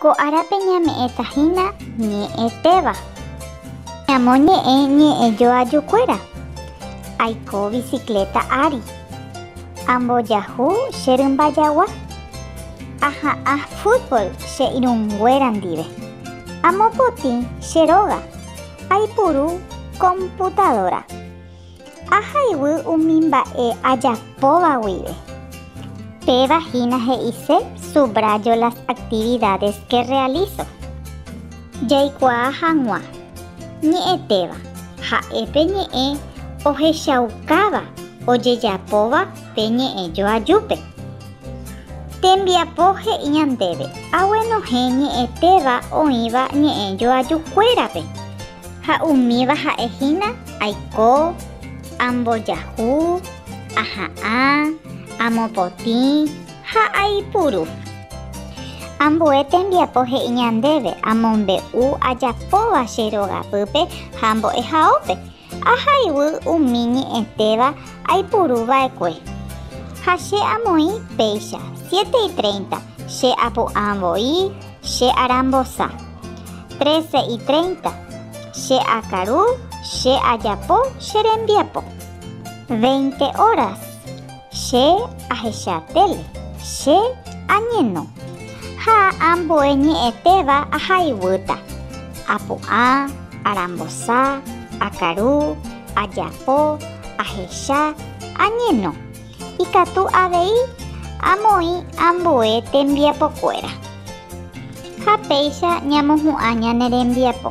Ko árape ñame'ẽta hína ñe'ẽtéva. Ñamoñe'ẽ ñe'ẽ joajukuéra. Aiko bicicleta ári. Ambojahu che rymba jagua. Aha'ã fútbol che irũnguéra ndive. Amopotĩ che róga. Aipuru computadora. Ahayhu umi mba'e ajapóva guive. Péva hína he'ise subrayo las actividades que realizo. Jaikuaa hag̃ua, ñe'ẽtéva, ha'e pe ñe'ẽ ohechaukáva ojejapóva pe ñe'ẽ joajúpe. Tembiapo he'i ñandéve aguenohẽ ñe'ẽtéva oĩva ñe'ẽ joajukuérape. Ha umíva ha'e hína, Aiko, ambojahu, aha'ã, amopotĩ ha aipuru. Ambue tembiapo he'i ñandéve amombe'u ajapóva che rogapýpe ha mbo'ehaópe, ahayhu umi ñe'ẽtéva aipuru va'ekue. Ha che amoĩ péicha, siete y treinta, che apu'ã voi, Che arambosa. Trece y treinta. Che akaru, che ajapo che rembiapo. Veinte horas. Che ahecha tele. Che añeno. Ha ambue ñe'ẽtéva aha iguýta. Apu'ã, arambosa, akaru, ajapo, ahecha, añeno. Ikatu avei amoĩ ambue tembiapokuéra. Ha péicha ñamohu'ã ñane rembiapo.